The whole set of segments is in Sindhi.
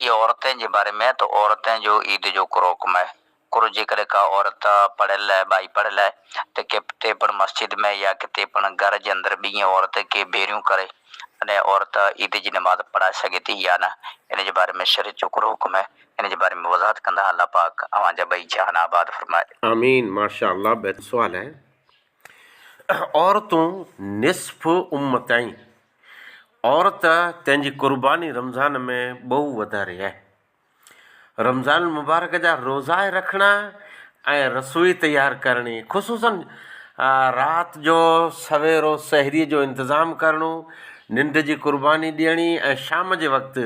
اهي عورتين جي باري ۾ آهي ته عورتين جو عيد جو ڪروڪم آهي. ڪرو جيڪڏهن ڪا عورت پڙهيل آهي، ٻائي پڙهيل آهي ته ڪتي پڻ مسجد ۾ يا ڪتي پڻ گهر جي اندر ٻينهي عورت کي ڀيريون ڪري تڏهن عورت عيد جي نماز پڙهائي سگهي ٿي يا نه ان جي باري ۾ شريعت جو ڪهڙو حڪم آهي ان جي باري ۾ وضاحت ڪندا الله پاڪ اوهان جا ٻئي جهان آباد فرمائي. آمين ماشاء الله بهترين سوال آهي. عورتون نصف امت آهن. عورت تنهنجي قرباني رمضان ۾ ٻهو وڌاري آهي. رمضان المبارڪ جا روزا رکڻا ۽ رسوئي تيار ڪرڻي خصوصا رات جو سويرو سحري جو انتظام ڪرڻو ننڊ جي قرباني ڏيڻي ۽ شام جي وقت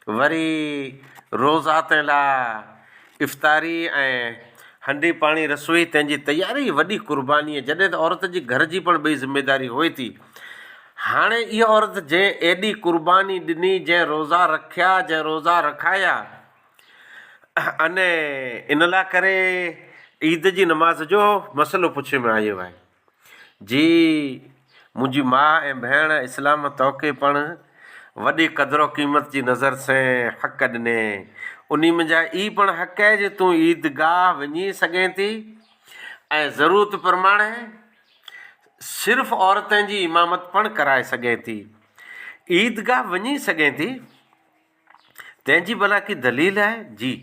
وري روزا تي لا افطاري ۽ هنڊي پاڻي رسوئي تنهن جي تياري ئي وڏي قرباني آهي جڏهن ته عورت جي گهر جي پڻ ٻئي ذميداري هئي ٿي هاڻي اها عورت جنهن ايڏي قرباني ڏني جنهن روزا رکيا جنهن روزا رکايا اني ان لا ڪري عيد جي نماز جو مسئلو پڇي ۾ آيو آهي جي منهنجي ماء ۽ ڀيڻ اسلام توکي پڻ وڏي قدر و قيمت جي نظر سين حق ڏني انهي منجهه اي پڻ حق اهي جي تون عيد گاهه وڃي سگهين ٿي ۽ ضرورت پرماڻي صرف عورتين جي امامت پڻ ڪرائي سگهين ٿي عيد گاهه وڃي سگهين ٿي. تنهن جي ڀلا ڪي دليل آهي؟ جي.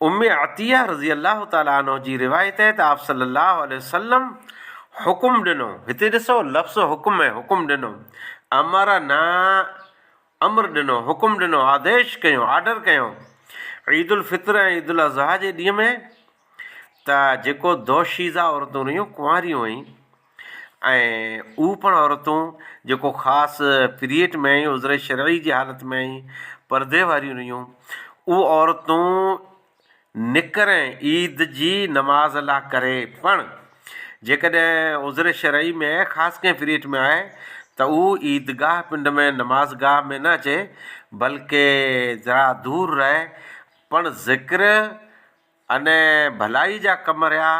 ام عطيه رضي الله تعالٰي عنها جي روايت آهي ته آپّ صلّي الله عليه وسلّم حڪم ڏنو، هتي ڏسو لفظ حڪم آهي، حڪم ڏنو، امرنا، امر ڏنو، حڪم ڏنو، آديش ڪيو، آرڊر ڪيو، عيد الفطر ۽ عيد الاضحيٰ جي ڏينهن ۾ ته جيڪو دوشيزه عورتون رهيون، ڪنواريون هيون، ۽ اهو پڻ عورتون جيڪو خاص پيريڊ ۾ ۽ عذر شرعي جي حالت ۾ ۽ پردي واريون رهيون اهو عورتون نڪرين عيد جي نماز لا ڪري پڻ جيڪڏهن عذر شرعي ۾ خاص ڪنهن پيريڊ ۾ آهي ته اهو عيد گاهه پنڊ ۾ نماز گاهه ۾ نه اچي بلڪه ذرا دور رهي پڻ ذڪر ان ڀلائي جا ڪم رھيا،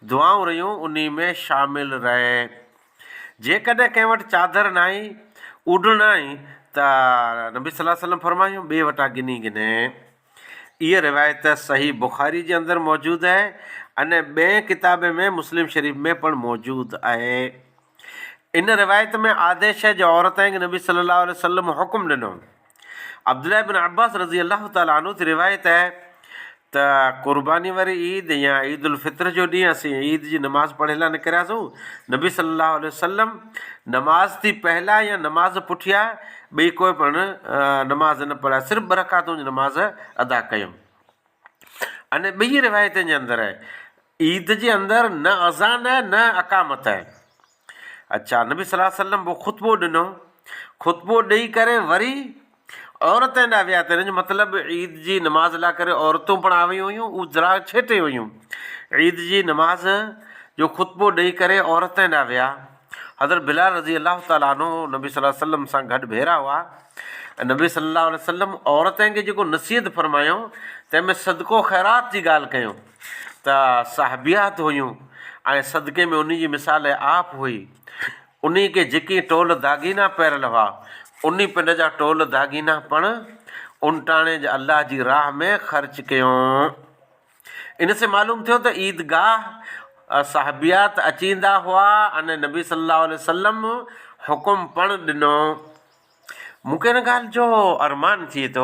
دعائون رھيون انھي ۾ شامل رھين. جيڪڏھن ڪنھن وٽ چادر ناھي، اوڍڻ ناھي ته نبي صلي الله عليه وسلم فرمايو ٻئي وٽان گھني گھني. اھا روايت صحيح بخاري جي اندر موجود اھي ۽ ٻئين ڪتابين ۾ مسلم شريف ۾ پڻ موجود اھي. ان روايت ۾ آديش اھي جو عورتين کي نبي صلي الله عليه وسلم حڪم ڏنو. عبدالله ابن عباس رضي الله تعالٰي عنه جي روايت آهي ته قرباني واري عيد يا عيد الفطر جو ڏينهن اسين عيد جي نماز پڙهڻ لاء نڪرياسون، نبي صلّي الله عليه وسلّم نماز تي پهلا يا نماز پٺيا ٻئي ڪوئي پڻ نماز نه پڙهيا صرف ٻه رڪعتون جي نماز ادا ڪيم. ان ٻنهي روايتن جي اندر عيد جي اندر نه اذان آهي نه اقامت آهي. اچا نبي صلي الله عليه وسلم پوء خطبو ڏنو، خطبو ڏئي ڪري وري عورتن ڏانهن ويا ته هن جو مطلب عيد جي نماز لاء ڪري عورتون پڻ آيون هيون اهو ذرا ڇيٽي هيون عيد جي نماز جو خطبو ڏئي ڪري عورتن ڏانهن ويا حضرت بلال رضي الله تعالٰي عنه نبي صلي الله عليه وسلم سان گڏ ڀيرا هئا نبي صلي الله عليه وسلم عورتن کي جيڪو نصيحت فرمايو تنهن ۾ صدقو خيرات جي ڳالهه ڪيو ته صحابيات هيون ۽ صدقي ۾ انهي جي مثال آپ هئي. انهي کي جيڪي ٽول داغينا پهريل هئا، انهي پنڊ جا ٽول داغينا پڻ اونٽاڻي جي الله جي راهه ۾ خرچ ڪيون. ان سين معلوم ٿيو ته عيدگاهه صحابيات اچيندا هئا ۽ نبي صلي الله عليه وسلم حڪم پڻ ڏنو. مون کي ان ڳالهه جو ارمان ٿئي ٿو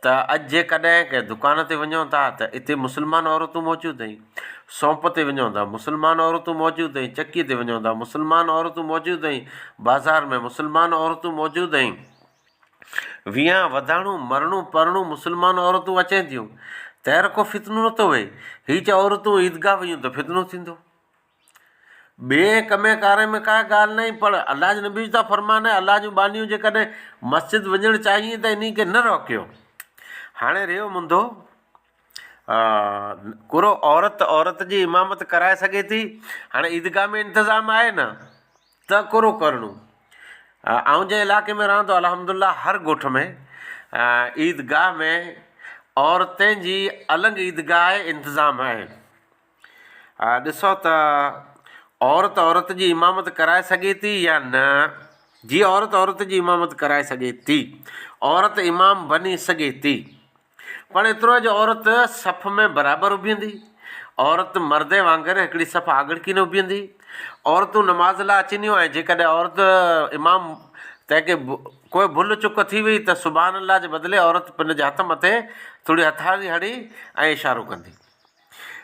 ته اڄ جيڪڏهن ڪنهن دڪان تي وڃو ٿا ته اتي مسلمان عورتون موجود ۽ سونپ تي وڃو ته مسلمان عورتون موجود ۽ چڪي تي وڃو ته مسلمان عورتون موجود ۽ بازار ۾ مسلمان عورتون موجود ۽ ويهان وڌاڻو مرڻو پرڻو مسلمان عورتون اچين ٿيون تير ڪو فتنو نه ٿو وهي هي چ عورتون عيدگاهه ويون ته فتنو ٿيندو ٻئي ڪمي ڪاري ۾ ڪا ڳالهه ناهي پر الله جي نبي جو ته فرمان آهي الله جون ٻانهيون جيڪڏهن مسجد وڃڻ چاهين ته انهي کي نه روڪيو هاڻي رهيو منڌو ڪرو عورت ته عورت جي امامت ڪرائي سگهي ٿي هاڻي عيدگاهه ۾ انتظام آهي نه ته ڪرو ڪرڻو آئون جنهن علائقي ۾ رهان ٿو الحمد لله هر ڳوٺ ۾ عيدگاهه ۾ عورتين جي الڳ عيدگاهه انتظام آهي ڏسو ته عورت عورت جي امامت ڪرائي سگهي ٿي يا نه جي عورت عورت جي امامت ڪرائي سگهي ٿي عورت امام بني سگهي ٿي پر ايترو جو عورت صف ۾ برابر ابهندي عورت مرد وانگر هڪڙي صف آڳڙڪي نه ابهندي عورتون نماز لاء اچنديون ۽ جيڪڏهن عورت امام تنهن کي ڪوئي ڀل چڪ ٿي وئي ته سبحان الله جي بدلي عورت پنهنجي هٿ مٿي ٿوري هٿياري هڻي ۽ اشارو ڪندي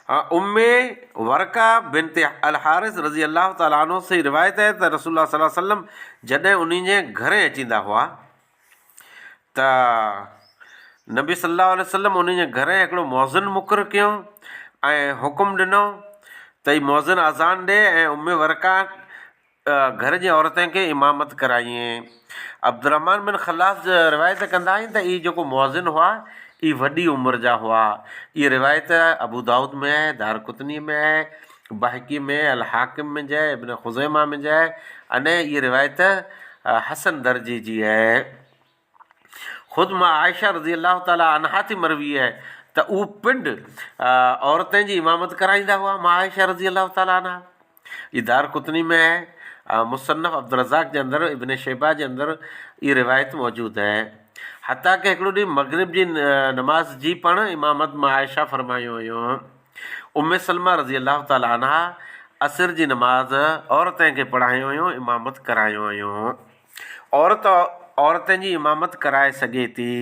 امّ ورقه بنت الحارث رضي الله تعالٰي عنه سين روايت آهي ته رسول الله صلّي الله عليه وسلّم جڏهن انهن جي گهرين اچيندا هئا ته نبي صلّي الله عليه وسلّم انهن جي گهرين هڪڙو مؤذن مقرر ڪيو ۽ حڪم ڏنو ته هي مؤذن اذان ڏي ۽ امّ ورقه گهر جي عورتين کي امامت ڪرايئين. عبدالرحمان بن خلاص روايت ڪندا آهن ته اهي جيڪو مؤذن هئا، اهي وڏي عمر جا هئا. اهي روايت ابودائود ۾ آهي، دارقطنيء ۾ آهي، بيهقي ۾، الحاڪم ۾ جي، ابن خزيمه ۾ جي، ۽ اهي روايت حسن درجي جي آهي. خود مان عائشه رضي الله تعالٰي عنها ٿي مروي آهي ته اهو پنڊ عورتين جي امامت ڪرائيندا هئا مان عائشه رضي الله تعالٰي عنها جي دارقطني ۾ آهي ۽ مصنف عبدالرزاق جي اندر ابن شيبه جي اندر اهي روايت موجود آهي حتيٰ ڪه هڪڙو ڏينهن مغرب جي نماز جي پڻ امامت مان عائشه فرمايون هيون ام سلمه رضي الله تعالٰي عنها عصر جي نماز عورتين کي پڙهايون هيون امامت ڪرايون هيون عورت عورتن جي امامت ڪرائي سگهي ٿي.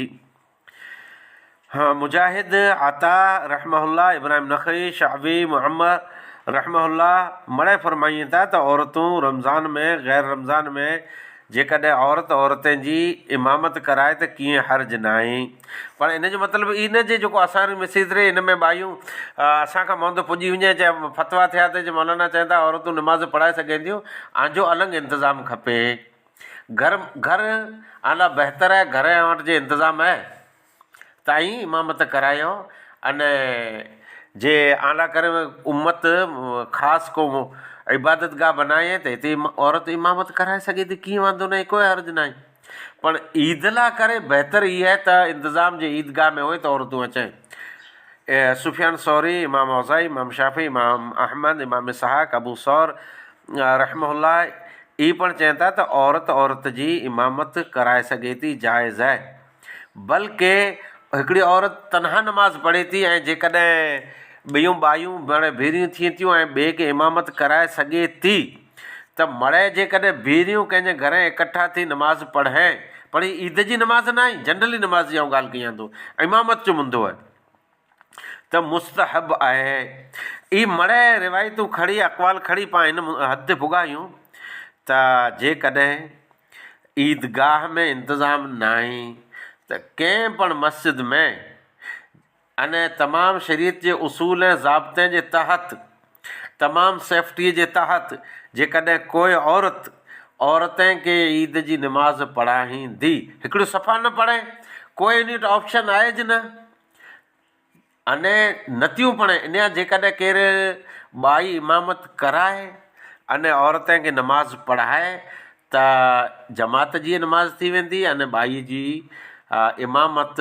مجاهد، عطاء رحمه الله، ابراهيم نخعي، شعبي، معمر رحمه الله مڙئي فرمائين ٿا ته عورتون رمضان ۾ غير رمضان ۾ جيڪڏهن عورت عورتين جي امامت ڪرائي ته ڪيئن حرج ناهي. پر ان جو مطلب اي نه جي جيڪو اسان ري مسيت ري ان ۾ ٻايون اسان کان مهندو پڄي وڃي جي فتويٰ ٿيا ته جي مولانا چين ٿا عورتون نماز پڙهائي سگهين ٿيون آنجو النگ انتظام کپي گهر گهر آلا بهتر آهي گهر اوهان وٽ جي انتظام آهي ته ائين امامت ڪرايو ان جي آلا ڪري امت خاص ڪو عبادت گاهه بنائي ته هتي عورت امامت ڪرائي سگهي ٿي ڪيئن واندو نه آهي ڪوئي حرج نه آهي پر عيد لاء ڪري بهتر هي آهي ته انتظام جي عيد گاهه ۾ اهي ته عورتون اچين. سفيان ثوري، امام اوزاعي، امام شافعي، امام احمد، امام اسحاق، ابو ثور رحمه الله ئي پڻ چين ٿا ته عورت عورت جي امامت ڪرائي سگهي ٿي جائز آهي. بلڪ هڪڙي عورت تنها نماز پڙهي ٿي ۽ جيڪڏهن ٻيون ٻايون پاڻ ڀيڙيون ٿين ٿيون ۽ ٻئي کي امامت ڪرائي سگهي ٿي. ته مڙئي جيڪڏهن ڀيريون ڪنهن جي گهرين اڪٺا ٿي نماز پڙهين، پڙهين عيد جي نماز ناهي، جنرلي نماز جي آئون ڳالهه ڪيان ٿو، امامت جو مندو آهي، ته مستحب آهي. اهي مڙئي روايتون کڻي، اقوال کڻي پاڻ هن حد تي پڳا آهيون ته جيڪڏهن عيدگاهه ۾ انتظام ناهي ته ڪنهن پڻ مسجد ۾ ان تمام شريعت جي اصول ۽ ضابطين جي تحت، تمام سيفٽيء جي تحت، جيڪڏهن ڪوء عورت، عورتين کي عيد جي نماز پڙهائيندي، هڪڙيون صفا نه پڙهي، ڪوء انهيء وٽ آپشن آهي جي نه؟ انهيء نتيون پڙهي، انهيء جيڪڏهن ڪير ٻائي امامت ڪرائي، انهيء عورتين کي نماز پڙهائي، ته جماعت جيئي نماز ٿي ويندي، انهيء ٻائي جي امامت